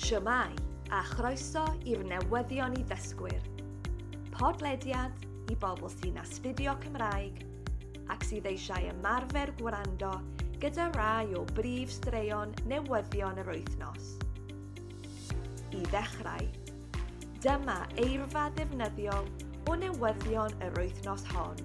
Shwmae, a chroeso i'r newyddion i ddysgwyr. Podlediad i bobl sy'n astudio Cymraeg ac sydd eisiau ymarfer gwrando gyda rai o brif straeon newyddion yr wythnos. I ddechrau, dyma eirfa ddefnyddiol o newyddion yr wythnos hon.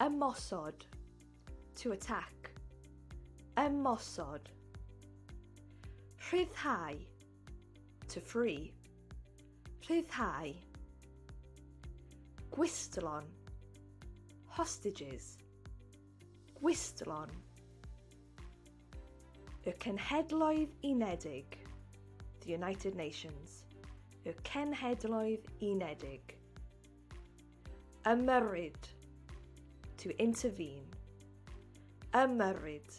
Ymosod. To attack. Ymosod. Rhyddhau. To free. Rhyddhau. Gwistlon. Hostages. Gwistlon. Y Cenhedloedd Unedig. The United Nations. Y Cenhedloedd Unedig. Ymyrryd. To intervene. Ymyrryd.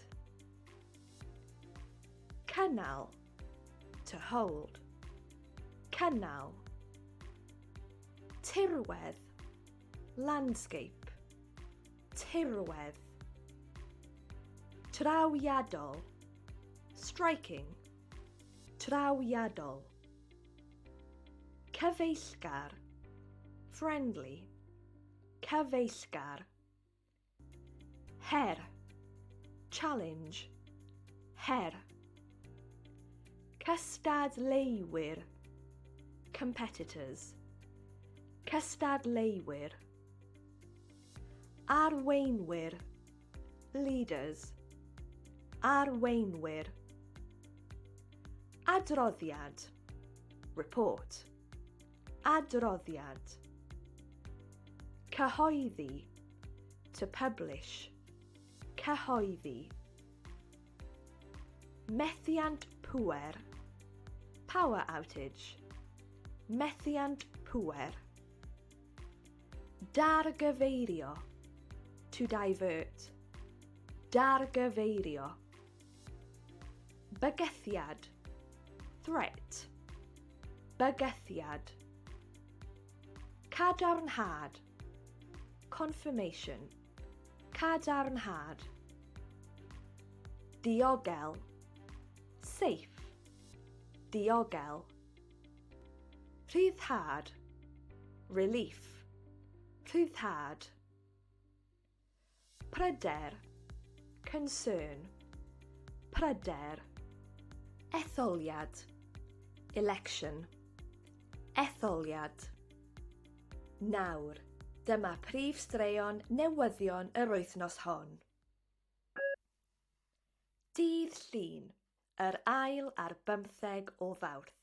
Cynnal. To hold. Cynnal. Tirwedd. Landscape. Tirwedd. Trawiadol. Striking. Trawiadol. Cyfeillgar, friendly, cyfeillgar. Her, challenge, her. Cystadleuwyr, competitors, cystadleuwyr. Arweinwyr, leaders. Arweinwyr. Adroddiad, report. Adroddiad. Cyhoeddi, to publish. Cyhoeddi. Methiant pŵer, power outage. Methiant pŵer. Dargyfeirio. To divert. Dargyfeirio. Bygythiad. Threat. Bygythiad. Cadarnhad. Confirmation. Cadarnhad. Diogel. Safe. Diogel. Rhyddhad Relief Rhyddhad Pryder Concern Pryder Etholiad Election Etholiad Nawr, dyma prif straeon newyddion yr wythnos hon. Dydd Llun, yr ail ar bymtheg o Fawrth.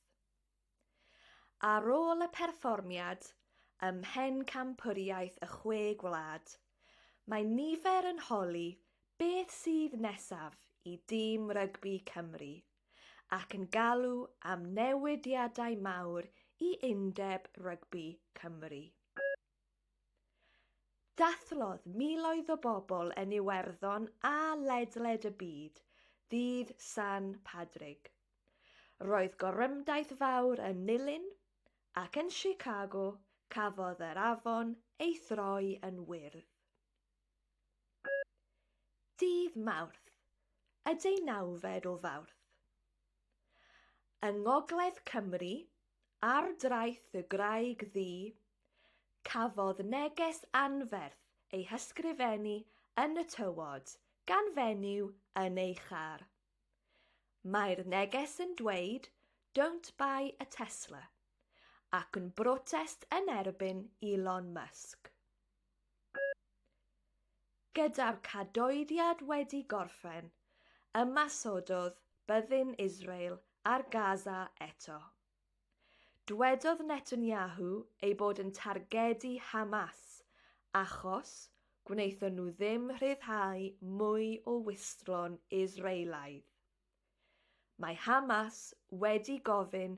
Ar ôl y perfformiad ym Mhencampwriaeth y Chwe Gwlad, mae nifer yn holi beth sydd nesaf i dîm rygbi Cymru ac yn galw am newidiadau mawr i Undeb Rygbi Cymru. Dathlodd miloedd o bobl yn Iwerddon a ledled y byd ddydd San Padrig. Roedd gorymdaith fawr yn Nulyn, ac yn Chicago cafodd yr afon ei throi yn wyrdd. Dydd Mawrth, y deunawfed o Fawrth. Yng ngogledd Cymru, ar draeth y graig ddu, cafodd neges anferth ei hysgrifennu yn y tywod gan fenyw yn ei char. Mae'r neges yn dweud Don't buy a Tesla ac yn brotest yn erbyn Elon Musk. Gyda'r cadoediad wedi gorffen, ymasododd byddin Israel ar Gaza eto. Dwedodd Netanyahu ei bod yn targedu Hamas achos gwnaethon nhw ddim rhyddhau mwy o wystlon Israelaidd. Mae Hamas wedi gofyn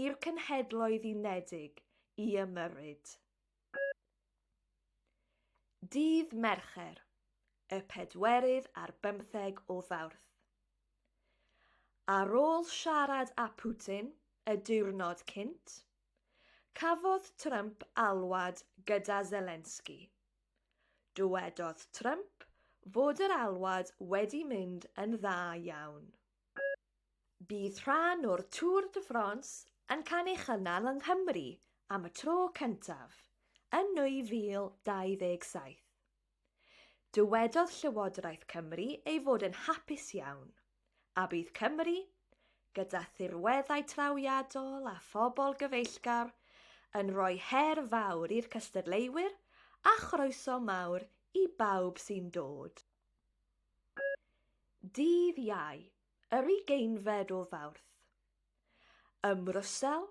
i'r Cenhedloedd Unedig i ymyrryd. Dydd Mercher, y pedwerydd ar bymtheg o Fawrth. Ar ôl siarad â Putin y diwrnod cynt, cafodd Trump alwad gyda Zelensky. Dywedodd Trump fod yr alwad wedi mynd yn dda iawn. Bydd rhan o'r Tour de France yn cael ei chynnal yng Nghymru am y tro cyntaf yn 2027. Dywedodd Llywodraeth Cymru ei fod yn hapus iawn, a bydd Cymru, gyda thirweddau trawiadol a phobl gyfeillgar, yn rhoi her fawr i'r cystadleuwyr a chroeso mawr i bawb sy'n dod. Dydd Iau, yr ugeinfed o Fawrth. Ym Mrwsel,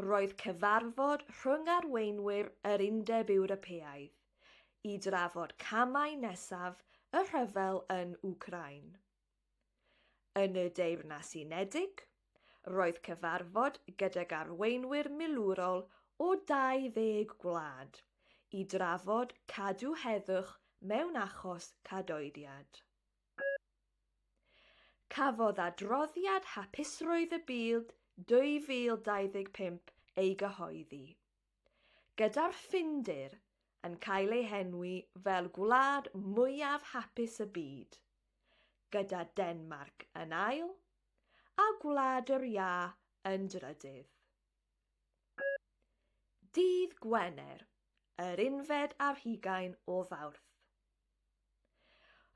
roedd cyfarfod rhwng arweinwyr yr Undeb Ewropeaidd i drafod camau nesaf y rhyfel yn Wcráin. Yn y Deyrnas Unedig, roedd cyfarfod gydag arweinwyr milwrol o 20 gwlad i drafod cadw heddwch mewn achos cadoediad. Cafodd adroddiad Hapusrwydd y Byd 2025 ei gyhoeddi. gyda'r Ffindir yn cael ei henwi fel gwlad mwyaf hapus y byd, gyda Denmarc yn ail a Gwlad yr Iâ yn drydydd. Dydd Gwener, yr unfed ar hugain o Fawrth.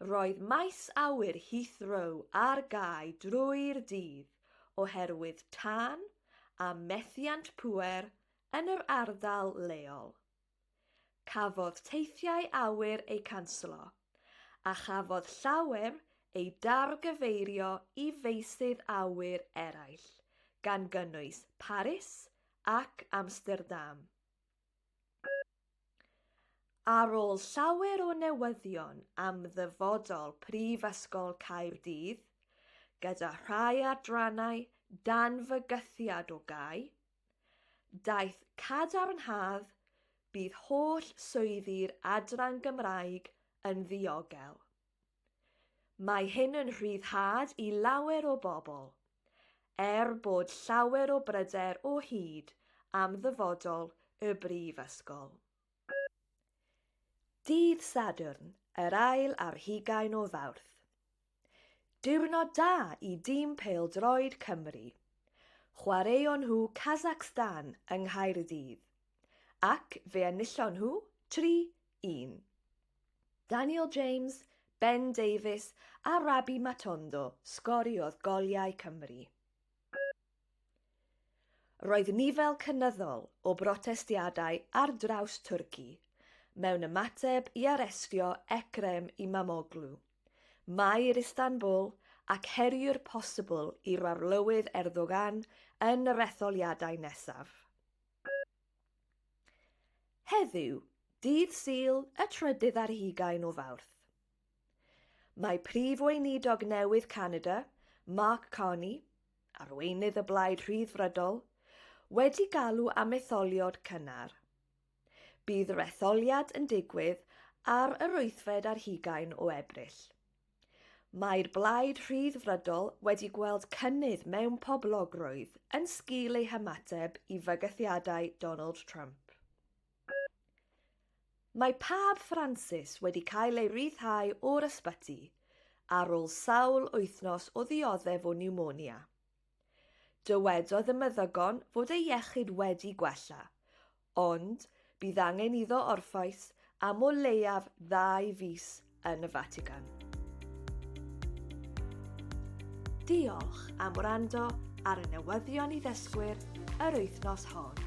Roedd maes awyr Heathrow ar gau drwy'r dydd oherwydd tân a methiant pŵer yn yr ardal leol. Cafodd teithiau awyr eu canslo, a chafodd llawer eu dargyfeirio i feysydd awyr eraill, gan gynnwys Paris ac Amsterdam. Ar ôl llawer o newyddion am ddyfodol Prifysgol Caerdydd, gyda rhai adrannau dan fygythiad o gau, daeth cadarnhad bydd holl swyddi'r Adran Gymraeg yn ddiogel. Mae hyn yn rhyddhad i lawer o bobl, er bod llawer o bryder o hyd am ddyfodol y Brifysgol. Dydd Sadwrn, yr ail ar hugain o Fawrth. Diwrnod da i dîm pêl-droed Cymru. Chwaraeon nhw Kazakhstan yng Nghaerdydd. Ac fe enillon nhw 3-1. Daniel James, Ben Davies a Rabbi Matondo sgoriodd goliau Cymru. Roedd nifer cynyddol o brotestiadau ar draws Twrci mewn ymateb i arestio Ekrem Imamoglu, Maer Istanbul ac heriwr posibl i'r Arlywydd Erdogan yn yr etholiadau nesaf. Heddiw, dydd Sul y trydydd ar hugain o Fawrth, mae Prif Weinidog newydd Canada, Mark Carney, arweinydd y Blaid Rhyddfrydol, wedi galw am etholiad cynnar. Bydd yr etholiad yn digwydd ar yr wythfed ar hugain o Ebrill. Mae'r Blaid Rhyddfrydol wedi gweld cynnydd mewn poblogrwydd yn sgil ei hymateb i fygythiadau Donald Trump. Mae Pab Ffransis wedi cael ei ryddhau o'r ysbyty ar ôl sawl wythnos o ddioddef o niwmonia. Dywedodd y meddygon fod ei iechyd wedi gwella, ond bydd angen iddo orffwys am o leiaf ddau fis yn y Fatican. Diolch am wrando ar y newyddion i ddysgwyr yr wythnos hon.